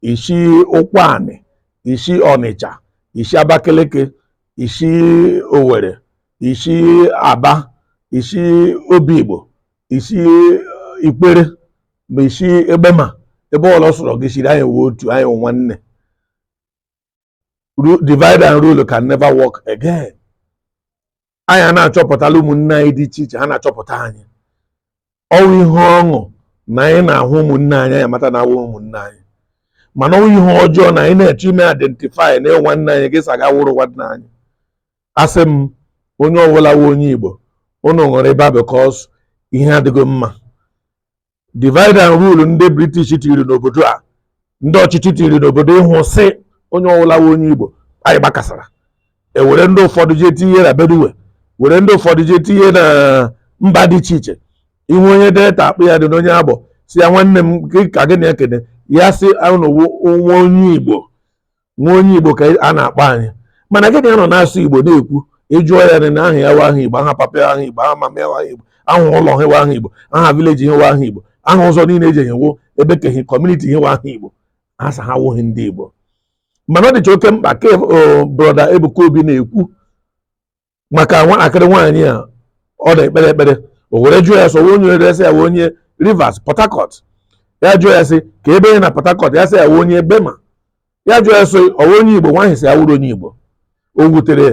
i si ụkwanị i si ọnịcha i si abakeleke i si owere i si aba i si obigbo i si ikwere ma i si egbema ebe ọwụla ọ sọrọ gị siri anyị wụ otu anyị wụ nwanne divide and rule can never work again anyị a na-achọpụtala ụmụnne anyị dị iche iche ha na-achọpụta anyị ọ wụ ihe ọṅụ na anyị na-ahụ ụmụnne anyị anyị amata na ha wụ ụmụnne anyị mana ọ wụ ihe ọjọọ na anyị na-achọ ime identify na ị wụ nwanne anyị gị asị gị awụghị nwanne anyị asị m onye ọbụla wụ onye Igbo unu ṅụrụ ịba because ihe adịghị mma divide and rule ndị british tiri n'obodo a ndị ọchịchị tiri n'obodo ịhụ sị onye ọwụla wụ onye igbo anyị gbakasara e were ndị ụfọdụ jee tinye na benue were ndị ụfọdụ jee tinye na mba dị iche iche ị hụ onye delta akpụ ya dị n'onye agbọ sị ya nwanne m ka gị na-ekene ya sị ụnụ nwa onye igbo nwa onye Igbo ka a na-akpọ anyị mana gị ga-anọ na-asụ Igbo na-ekwu ị jụọ ya na aha ya wụ aha Igbo aha papa ya aha Igbo aha mama ya wụ aha Igbo aha ụlọ ha wụ aha Igbo aha village ha wụ aha Igbo aha ụzọ niile e ji eje ebe kehi community ha wụ aha Igbo ha sị ha awụghị ndị Igbo mana ọ dịcha oke mkpa ka brother Ebuka Obi na-ekwu maka nwatakịrị nwaanyị a ọ na-ekpere ekpere o were jụọ ya sị ọ wụ onye ebee sị ya wụ onye Rivers Port Harcourt ya jụọ ya sị kee ebe na Port Harcourt ya sị ya wụ onye Egbema ya jụọ ya sị ọ wụ onye Igbo nwaanyị sị ya awụghị onye Igbo o wutere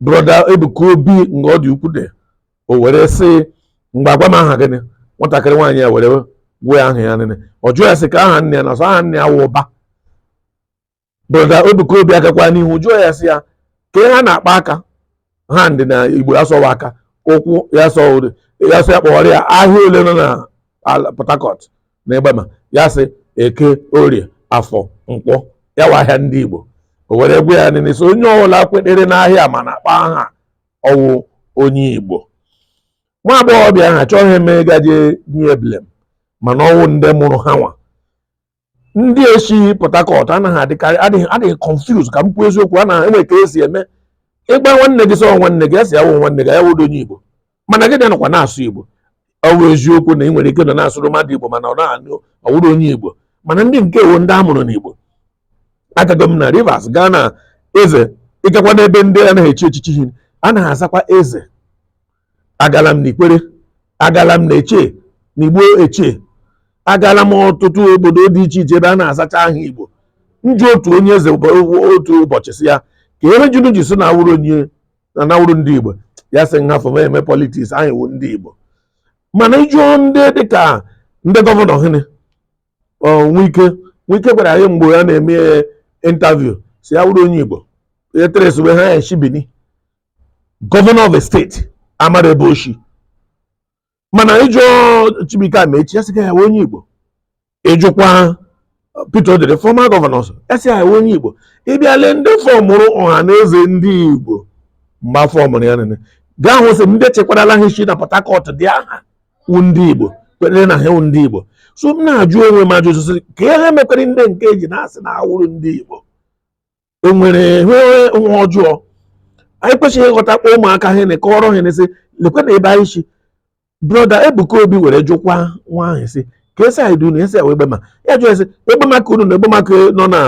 brother Ebuka Obi nga ọ dị ukwu dị o were sị ngwa gwa m aha gị nwatakịrị nwaanyị a were gwa aha ya Nene ọ jụọ ya sị kee aha nne ya ọ sị aha nne ya wụ ụba brother Ebuka Obi agakwa n'ihu jụọ ya sị ya kee ihe ha na-akpọ aka hand na Igbo ya sị ọ wụ aka ụkwụ ya sị ya sị ya kpọọrọ ya ahịa ole nọ na Port Harcourt na Egbema ya sị Eke Orie Afọ Nkwọ ya wụ ahịa ndị Igbo o were gwa ya Nene sị onye ọbụla kwetere n'ahịa ma na-akpọ aha ọ wụ onye Igbo nwa agbọghọbịa a achọghị m ịgaje nye ya blame mana ọ wụ ndị mụrụ ha nwa ndị si Port Harcourt anaghị adịkarị adị confuse ka m kwuo eziokwu a na-enwe ka e si eme ị gwa nwanne gị sị ọ nwanne gị asị awụ nwanne gị ya awụdị onye Igbo mana gị nọkwa na-asụ Igbo ọ bụ eziokwu na ị nwere ike nọ na-asụrụ mmadụ Igbo mana ọ na-anụ ọ wụghị onye Igbo mana ndị nke a wụ ndị a mụrụ n'Igbo agago m na Rivers gaa na eze ị gakwa n'ebe ndị anaghị echi echichi ha anaghị azakwa eze agala m n'ikwere agala m n'eche n'igbo eche agala m ọtụtụ obodo dị iche iche ebe a na-azacha aha igbo m jụọ otu onye eze otu ụbọchị sị ya ka ihe mere unu ji sị na awụrụ onye na na awụrụ ndị igbo ya sị m hafụ ma eme politiks anyị wụ ndị igbo mana ị jụọ ndị dịka ndị gọvanọ hịnị nwike nwike gwara anyị mgbe ya na-eme intaviu sị ya awụrụ onye igbo e tracewe ha ya eshi bini gọvanọ of a steeti amara ebe o shi mana ị jụọ Chibuike Amaechi ya sị ka ya wụ onye Igbo ị jụkwa Peter Odili fọma gọvanọ also ya sị ya wụ onye Igbo ị bịa lee ndị fọmụrụ ọha na eze ndị Igbo mgbe a fọmụrụ ya nene ga-ahụ sị ndị chekwarala ha isi na Port Harcourt ndị ahụ wụ ndị Igbo kwenyere na ha wụ ndị Igbo so m na-ajụ onwe m ajụ sị ka ihe mekwere ndị nke eji na-asị na awụrụ ndị Igbo e nwere ihe ọjọọ anyị kwesịrị ịghọta kpọ ụmụaka ha na kọọrọ ha na-asị lekwe na ebe anyị si broda Ebuka Obi were jụkwa nwa ahụ sị ka esi anyị dunu esi Egbema ya jụọ sị Egbema ke unu na Egbema ke nọ na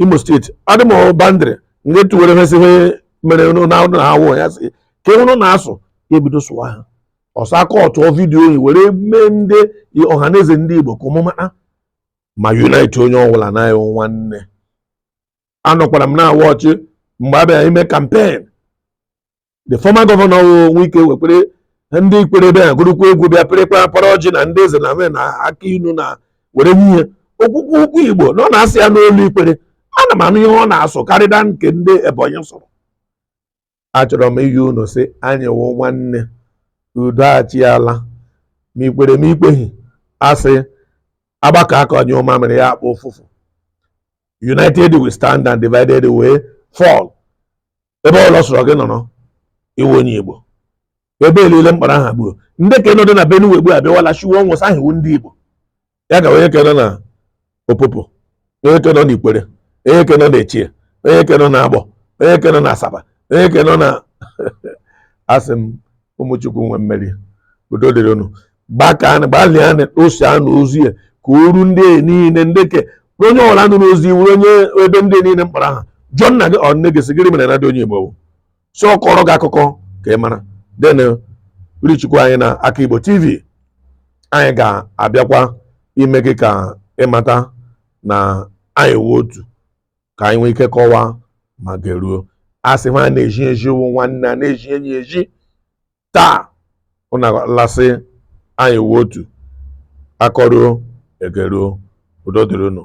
Imo steeti adị m boundary nke tuwere ha si ihe mere na ụlọ awụ ya sị ka ihe unu na-asụ ya ebido sụwa ha ọsọ aka ọtụọ vidiyo oyi were mee ndị ọha na eze ndị Igbo ka ọmụma ma unite onye ọbụla na nwanne anọkwara m na-awa ọchị mgbe a bịara ime kampen the former gọvanọ Wike wekwere ndị ikwere ebe ya gụrụkwa egwu bịa pịrịkwa para ọjị na ndị eze na na aka inu na were nye ihe okwukwu okwu igbo na ọ na-asụ ya n'olu ikwere ana m anụ ihe ọ na-asụ karịda nke ndị ebonyi sụrụ achọrọ m izi unu sị anyị wụ nwanne udo achịala ma i kwere ma i kweghị a sị a gbakọọ aka nyụọ mamịrị ya agba ụfụfụ united we stand and divided we fall ebe ọla sọrọ gị nọrọ ị wụ onye igbo ebe elile m kpọrọ aha gburu ndị ke nọdị na Benue ugbu a abịawala shiwe ọnwụ sị ha wụ ndị Igbo ya ga onye ke nọ na Opopo onye ke nọ na Ikwere onye ke nọ na Echie onye ke nọ na Agbọ onye ke nọ na Asaba onye ke nọ na asị m ụmụ Chukwu nwe mmeri udo dịrị unu gbalịanụ share nụ ozi ya ka o ruo ndị niile ndị ke onye ọla nụrụ ozi wụrụ onye ebe ndị niile m kpọrọ aha jụọ nna gị ọ nne gị sị gịrị mere na dị onye Igbo so ọ kọrọ gị akụkọ ka ị mara den reachikwa anyị na aka igbo tv anyị ga-abịakwa ime gị ka ị mata na anyị wụ otu ka anyị nwee ike kọwaa ma geruo a sị ha na-ezi ezi wụ nwanne a na-ezi enyi ezi taa unu ahụla sị anyị wụ otu a kọruo e geruo udo dịrị unu